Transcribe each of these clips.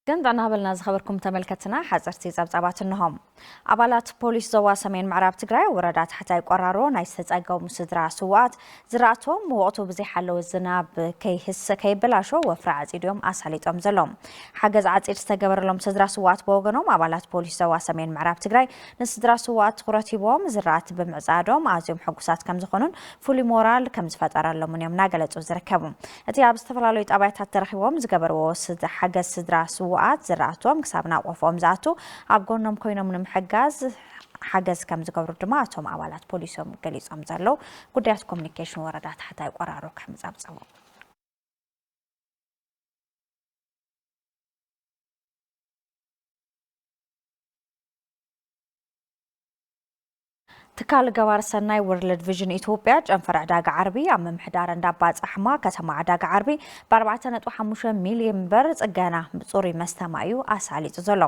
ግን ዳናበልና ዝኸበርኩም ተመልከትና ሓፀርቲ ፀብፃባት እንሆም ኣባላት ፖሊስ ዞባ ሰሜን ምዕራብ ትግራይ ወረዳ ታሕታይ ቆራሮ ናይ ዝተፀገሙ ስድራ ስዋኣት ዝራእቶም ወቕቱ ብዘይሓለወ ዝናብ ከይህስ ከይበላሾ ወፍሪ ዓፂድ እዮም ኣሳሊጦም ዘሎም ሓገዝ ዓፂድ ዝተገበረሎም ስድራ ስዋኣት ብወገኖም ኣባላት ፖሊስ ዞባ ሰሜን ምዕራብ ትግራይ ንስድራ ስዉኣት ትኹረት ሂቦም ዝራእቲ ብምዕፃዶም ኣዝዮም ሕጉሳት ከምዝኾኑን ፍሉይ ሞራል ከምዝፈጠረሎምን እዮም እናገለፁ ዝርከቡ። እቲ ኣብ ዝተፈላለዩ ጣብያታት ተረኺቦም ዝገበርዎ ሓገዝ ስድራ ስዉኣት ዝራእቶም ክሳብ ናብ ቆፎኦም ዝኣቱ ኣብ ጎኖም ኮይኖም ንምሕጋዝ ሓገዝ ከምዝገብሩ ድማ እቶም ኣባላት ፖሊስ እዮም ገሊፆም ዘለው። ጉዳያት ኮሚኒኬሽን ወረዳ ታሕታይ ቆራሮ ከምፀብፀቦ። ትካል ገባር ሰናይ ወርልድ ቪዥን ኢትዮጵያ ጨንፈር ዕዳጋ ዓርቢ ኣብ ምምሕዳር እንዳባ ጻሕማ ከተማ ዕዳጋ ዓርቢ ብ4.5 ሚልዮን ብር ጽገና ጽሩይ መስተማ እዩ ኣሳሊጡ ዘሎ።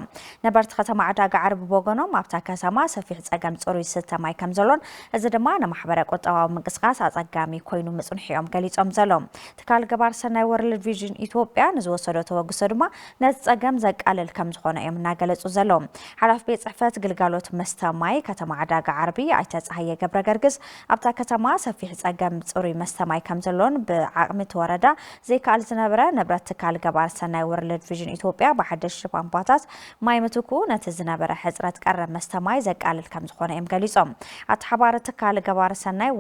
ነበርቲ ከተማ ዕዳጋ ዓርቢ ብወገኖም ኣብታ ከተማ ሰፊሕ ጸገም ጽሩይ ዝስተ ማይ ከም ዘሎን እዚ ድማ ንማሕበረ ቁጠባዊ ምንቅስቓስ ኣጸጋሚ ኮይኑ ምጽንሑ እዮም ገሊጾም ዘለዉ። ትካል ገባር ሰናይ ወርልድ ቪዥን ኢትዮጵያ ንዝወሰዶ ተበግሶ ድማ ነቲ ፀገም ዘቃልል ከምዝኾነ እዮም እናገለፁ ዘለዉ። ሓላፊ ቤት ፅሕፈት ግልጋሎት መስተ ማይ ከተማ ዕዳጋ ዓርቢ ኣይተ ፀሃየ ገብረገርግስ ኣብታ ከተማ ሰፊሕ ፀገም ፅሩይ መስተ ማይ ከምዘሎን ብዓቕሚ እቲ ወረዳ ዘይከኣል ዝነበረ ንብረት ትካል ገባር ሰናይ ወርልድ ቪዥን ኢትዮጵያ ብሓደሽቲ ፓምፓታት ማይ ምትኩ ነቲ ዝነበረ ሕፅረት ቀረብ መስተ ማይ ዘቃልል ከምዝኾነ እዮም ገሊፆም። ኣተሓባሪ ትካል ገባር ሰናይ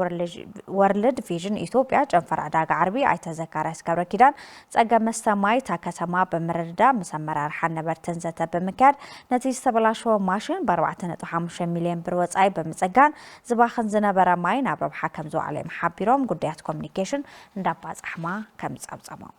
ወርልድ ቪዥን ኢትዮጵያ ጨንፈር ዕዳጋ ዓርቢ ኣይተ ዘካርያስ ገብረኪዳን ፀገም መስተ ማይ እታ ከተማ ብምርድዳእ ምስ ኣመራርሓን ነበርትን ዘተ ብምክያድ ነቲ ዝተበላሸወ ማሽን ብ ኣርባዕተ ነጥቢ ሓሙሽተ ሚሊየን ብር ወፃኢ ብምፅጋን ዝባኽን ዝነበረ ማይ ናብ ረብሓ ከምዝወዓለ እዮም ሓቢሮም ጉዳያት ኮሚኒኬሽን እንዳባ ፃሕማ ከምዝፀብፀቦም።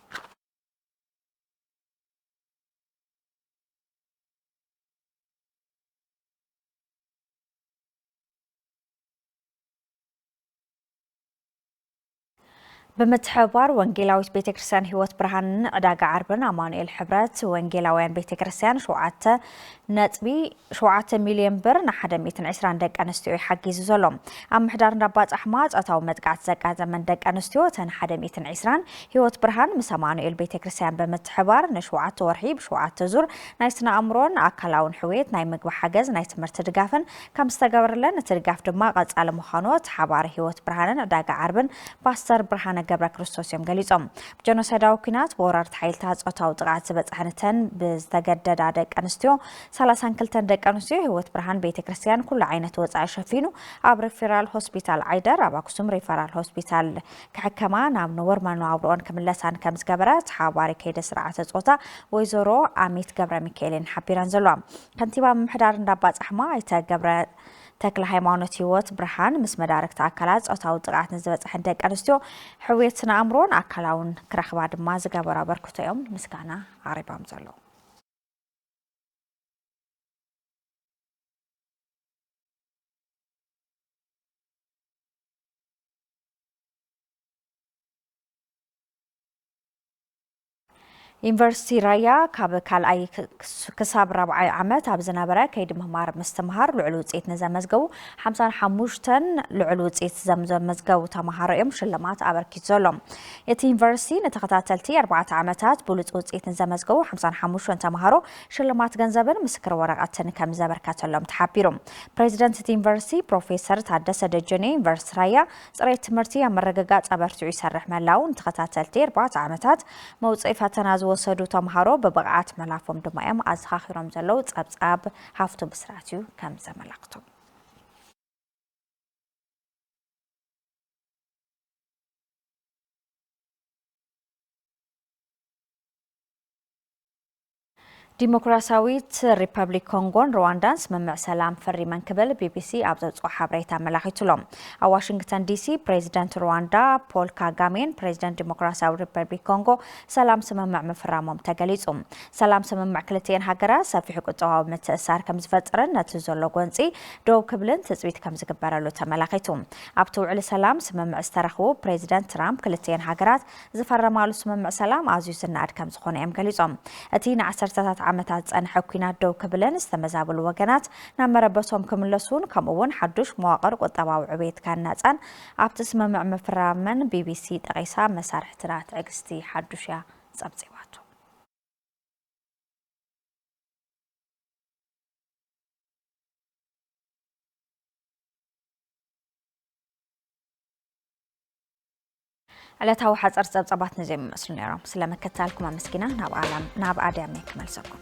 ብምትሕብባር ወንጌላዊት ቤተ ክርስቲያን ህይወት ብርሃንን ዕዳጋ ዓርብን ኣማኑኤል ሕብረት ወንጌላውያን ቤተ ክርስቲያን ሸውዓተ ነጥቢ ሸውዓተ ሚልዮን ብር ንሓደ ሚእትን ዕስራን ደቂ ኣንስትዮ እዩ ሓጊዙ ዘሎ ኣብ ምሕዳር እንዳባፃሕማ ፆታዊ መጥቃዕቲ ዘጋጠመን ደቂ ኣንስትዮ እተን ሓደ ሚእትን ዕስራን ህይወት ብርሃን ምስ ኣማኑኤል ቤተ ክርስቲያን ብምትሕባር ንሸውዓተ ወርሒ ብሸውዓተ ዙር ናይ ስነ ኣእምሮን ኣካላውን ሕውየት ናይ ምግቢ ሓገዝ ናይ ትምህርቲ ድጋፍን ከም ዝተገበረለን እቲ ድጋፍ ድማ ቀፃሊ ምዃኑ እቲ ሓባሪ ህይወት ብርሃንን ዕዳጋ ዓርብን ፓስተር ብርሃነ ገብረክርስቶስ እዮም ገሊፆም። ብጀኖሳይዳዊ ኲናት ብወረርቲ ሓይልታት ፆታዊ ጥቕዓት ዝበፅሐን እተን ብዝተገደዳ ደቂ ኣንስትዮ ሰላሳን ክልተን ደቂ ኣንስትዮ ህይወት ብርሃን ቤተ ክርስቲያን ኩሉ ዓይነት ወፃኢ ሸፊኑ ኣብ ሪፊራል ሆስፒታል ዓይደር ኣብ ኣክሱም ሪፈራል ሆስፒታል ክሕከማ ናብ ነበሩ መነባብሮኦን ክምለሳን ከም ዝገበረ እቲ ሓባሪ ከይደ ስርዓተ ፆታ ወይዘሮ ኣሚት ገብረሚካኤል እየን ሓቢረን ዘለዋ። ከንቲባ ምምሕዳር እንዳባፃሕማ ኣይተ ገብረ ተክለሃይማኖት ህይወት ብርሃን ምስ መዳርግቲ ኣካላት ፆታዊ ጥቕዓት ንዝበፅሐን ደቂ ኣንስትዮ ሕውየት ስነ ኣእምሮን ኣካላውን ክረኽባ ድማ ዝገበሩ ኣበርክቶ እዮም ምስጋና ኣቕሪቦም ዘለዉ። ዩኒቨርሲቲ ራያ ካብ ካልኣይ ክሳብ ራብዓይ ዓመት ኣብ ዝነበረ ከይዲ ምማር ምስትምሃር ልዑል ውፅኢት ንዘመዝገቡ ሓምሳን ሓሙሽተን ልዑል ውፅኢት ዘመዝገቡ ተምሃሮ እዮም ሽልማት ኣበርኪቱ ዘሎ። እቲ ዩኒቨርሲቲ ንተኸታተልቲ ኣርባዕተ ዓመታት ብሉፅ ውፅኢት ንዘመዝገቡ ሓምሳን ሓሙሽተን ተምሃሮ ሽልማት ገንዘብን ምስክር ወረቐትን ከም ዘበርከተሎም ተሓቢሩ። ፕሬዚደንት እቲ ዩኒቨርሲቲ ፕሮፌሰር ታደሰ ደጀኔ ዩኒቨርሲቲ ራያ ፅሬት ትምህርቲ ኣብ ምርግጋፅ ኣበርቲዑ ይሰርሕ ምህላዉ ንተኸታተልቲ ኣርባዕተ ዓመታት መውፅኢ ፈተና ዝወሰዱ ተምሃሮ ብብቕዓት ምህላፎም ድማ እዮም ኣዘኻኺሮም ዘለዉ። ፀብፃብ ሃፍቱ ብስራት እዩ ከም ዘመላኽቶ። ዲሞክራሲያዊት ሪፐብሊክ ኮንጎን ሩዋንዳን ስምምዕ ሰላም ፈሪመን ክብል ቢቢሲ ኣብ ዘውፅኦ ሓበሬታ ኣመላኺቱ ኣሎ። ኣብ ዋሽንግተን ዲሲ ፕሬዚደንት ሩዋንዳ ፖል ካጋሜን ፕሬዚደንት ዲሞክራሲያዊ ሪፐብሊክ ኮንጎ ሰላም ስምምዕ ምፍራሞም ተገሊፁ። ሰላም ስምምዕ ክልቲኤን ሃገራት ሰፊሕ ቁጠባዊ ምትእስሳር ከምዝፈጥርን ነቲ ዘሎ ጎንፂ ደው ክብልን ትፅቢት ከምዝግበረሉ ተመላኺቱ። ኣብቲ ውዕሊ ሰላም ስምምዕ ዝተረኽቡ ፕሬዚደንት ትራምፕ ክልቲኤን ሃገራት ዝፈረማሉ ስምምዕ ሰላም ኣዝዩ ዝነኣድ ከምዝኾነ እዮም ገሊጾም። እቲ ንዓሰርተታት ዓመታት ዝጸንሐ ኲናት ደው ክብልን ዝተመዛበሉ ወገናት ናብ መረበቶም ክምለሱን ከምኡ'ውን ሓዱሽ መዋቕር ቁጠባዊ ዕብየት ክህነጽን ኣብቲ ስምምዕ ምፍራመን ቢቢሲ ጠቒሳ መሳርሕትና ትዕግስቲ ሓዱሽ እያ ጸብጺባቶ። ዕለታዊ ሓጸርቲ ጸብጻባት ነዚኦም ይመስሉ ነይሮም። ስለ ምክትታልኩም ኣመስጊና ናብ ኣድያመይ ክመልሰኩም።